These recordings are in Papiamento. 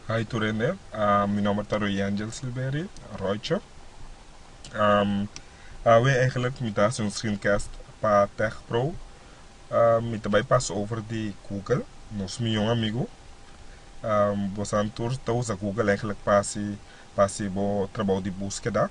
Hi to rende, um, mi nomber ta Royangel Silveri Roicho. Um, awe eigenlijk mi ta hacer un screencast pa Tech Pro. Um, mi ta bij pas over di Google, nos mi jong amigo. Um, bo santur ta usa Google eigenlijk pa si, pa si bo trabao di búsqueda.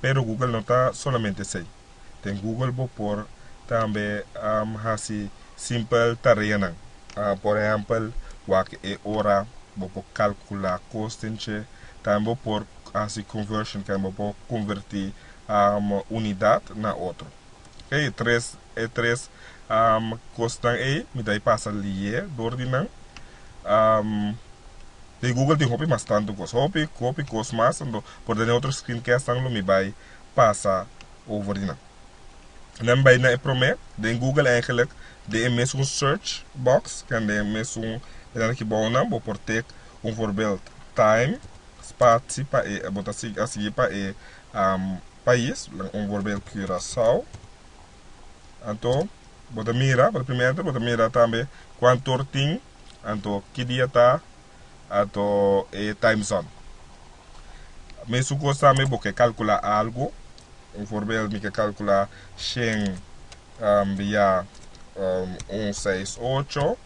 Pero Google no ta solamente sei. Den Google bo por tambe hasi simpel tareanan. Por ehèmpel, wak e ora, bo por kalkulá kostenche, tambe bo por hasi conversion, ku bo por konvertí unidat na otro. E tres e tres kosnan ei mi ta e pasa lié dor di nan. Den Google tin hopi mas tantu kos, hopi hopi kos mas, por den e otro screencastnan lo mi bai. pasa over di nan. Nan bai na e prome den Google eigenlik den e mesun search box ken den mesun enan aki bou nan bo por take un voorbeeld time spatsie pa e bo ta sigui a sigui pa e pais un voorbeeld Curaçao anto bo ta mira bo ta mira tambe kuantor tin anto ki dia ta ato e time zone. Mesun cos tambe bo ke calcula algo, un voorbeeld mi ke calcula shen via un seis ocho,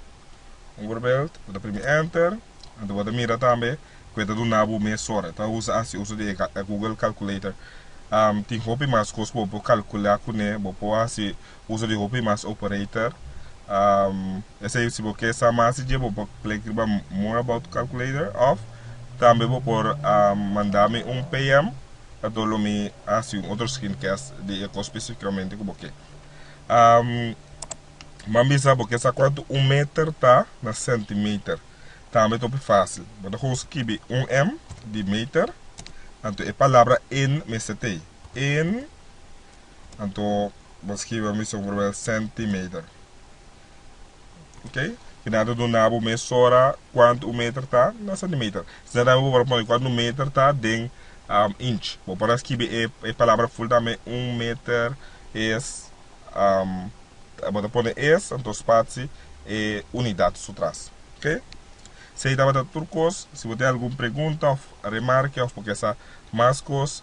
un voorbeeld, bo ta primi enter, anto bo ta mira tambe cu e ta duna bo mes ora, ta usa haci uso di e google calculator, tin hopi mas cos bo por calcula cune, bo por haci Uso di hopi mas operator. Esei si bo ke sa mas di dje bo por klik riba more about calculator of tambe bo por manda mi un PM ato lo mi hasi un otro screencast di e kos specificamente ku bo ke. Bo a bisa bo ke sa kuantu un meter ta na centimeter tambe ta hopi facil bo ta kon skibi un em di meter anto e palabra en mester tei en Anto bo skiba mi so probel centimeter. Ok si nan ta duna bo mes ora kuantu un meter ta na centimeter. Si nan ta habi bo para pone kuantu un meter ta den inch bo por a skibi e palabra ful tambe un meter es bo ta pone es anto spatsi e unidad su tras ok. Si ei tabata tur kos si bo tin algun pregunta of remarke of bo ke sa mas kos